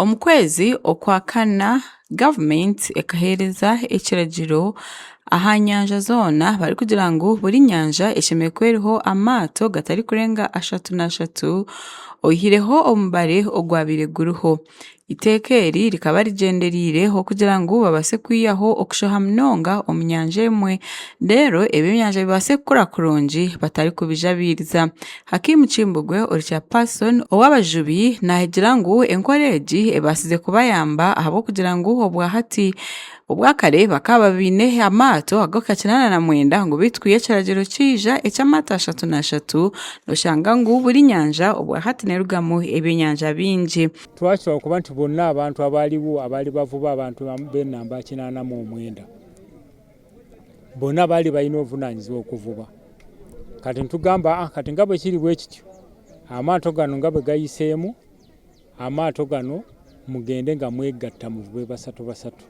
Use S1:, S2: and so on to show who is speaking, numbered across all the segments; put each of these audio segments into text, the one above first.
S1: Omu kwezi okwa kana, gavumenti ekaheereza ekiragiro aha nyanja zoona barikugira ngu buri nyanja eshemereire kuba eriho amaato gatarikurenga ashatu n'ashatu oyihireho omubare ogwabaire guriho. Eiteeka eri rikaba rigyendereire ho kugira ngu babaase kwihaho okushoha munonga omu nyanja emwe, reero ebyenyanja bibaase kukura kurungi batarikubijabiiriza. Hakim Kimbugwe ori chairperson ow'abajubi naahigira ngu enkora egi ebaasize kubayamba ahabw'okugira ngu obwa hati, obwa kare bakaba baine amaato ag'okukira na na mwenda ngu beitu kwiha ekiragiro kiija eky'amaato ashatu na ashatu, oshanga ngu buri nyanja obwa hati nerugamu ebyenyanja bingi. Twakihwaho kuba nti
S2: boona abantu abaaliwo abaali bavuba abantu b'enamba kinaana mu omwenda boona baali baine obuvunaanyizibwa bw'okuvuba. Kati nitugamba ah, kati ngabwe kiri bwe kityo, amaato gano ngabwe gayiseemu, amaato gano mugende nga mwegatta muvube basatu basatu.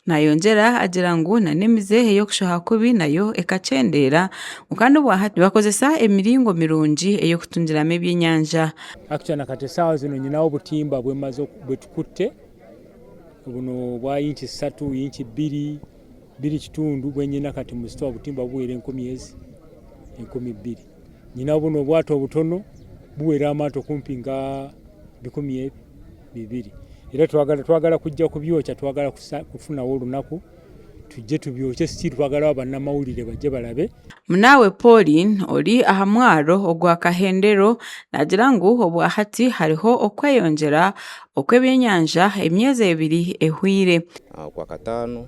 S2: Naayongyera
S1: agira ngu na n'emize ey'okushoha kubi nayo ekakyendeera. Kwonka n'obwa hati nibakozesa emiringo mirungi ey'okutungiramu ebyenyanja. Actually na kati
S2: esaaha zino nyine obutimba bwetukutte bunu bwa inch zisatu, inch bbiri, bbiri kitundu bwenyine kati mu sitoowa obutimba buwera enkumi ezi enkumi bbiri. Nyine bunu obwaato obutono buwera amaato kumpi nka bikumi ebi. bibiri reero twagara twagara kugya kubyokya twagara kufunaho orunaku tugye tubyokye sitiiru twagara abo banamawurire bagye barabe. Munaawe
S1: Pauline ori aha mwaaro ogwa Kahendero naagira ngu obwahati hariho okweyongyera okw'ebyenyanja emyeezi ebiri ehweire. Okwakataano.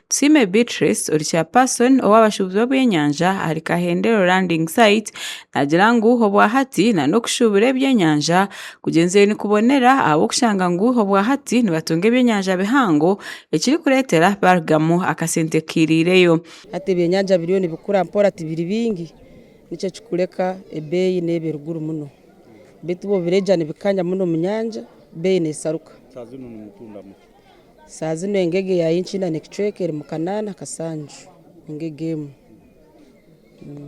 S3: Tusiime
S1: Beatrice ori chairperson ow'abashuubuzi b'eby'enyanja ahari Kahendero landing site naagira ngu obwahati nana okushuubura eby'enyanja kugyenzire nikubonera ahabw'okushanga ngu obwahati nibatunga eby'enyanja bihango ekirikureetera baarugamu akasente kairireyo. Hati eby'enyanja
S4: biriyo nibikura mpora tibiri bingi nikyo kirikureka ebeeyi neeba eri guru muno beitu bwobiregya nibikanya muno omu nyanja beeyi nesaruka.
S2: Saaha zinu
S4: engege ya Inchina ne kicweka eri mu kanaana kasanju, engege emwe.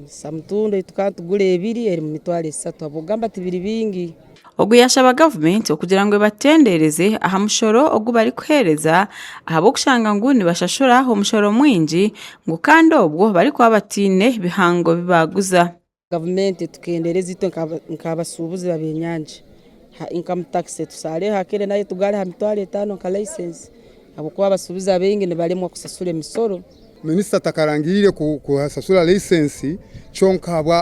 S4: Samutundo ei tukaba nitugura ebiri eri mu mitwaro esatu ahabw'okugamba tibiri bingi. Ogu yaashaba
S1: gavumenti okugira ngu ebatendeereze aha mushoro ogu barikuheereza ahabw'okushanga ngu nibashashura omushoro mwingi ngu kandi obwo barikuba bataine bihango bi baaguza. Gavumenti
S4: etukendeereze itwe nk'abashuubuzi b'abenyanja aha inkamu takisi, etushareho ak'enyanja nayo etugare aha mitwaro etaano nka laisensi ahabw'okuba abashuubuzi abaingi nibaremwa kushashura emisoro. Minisita
S5: atakarangiriire kushashura laisensi kyonka ahabwa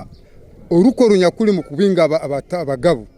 S5: orukoro nyakuri mu kubinga abagabu.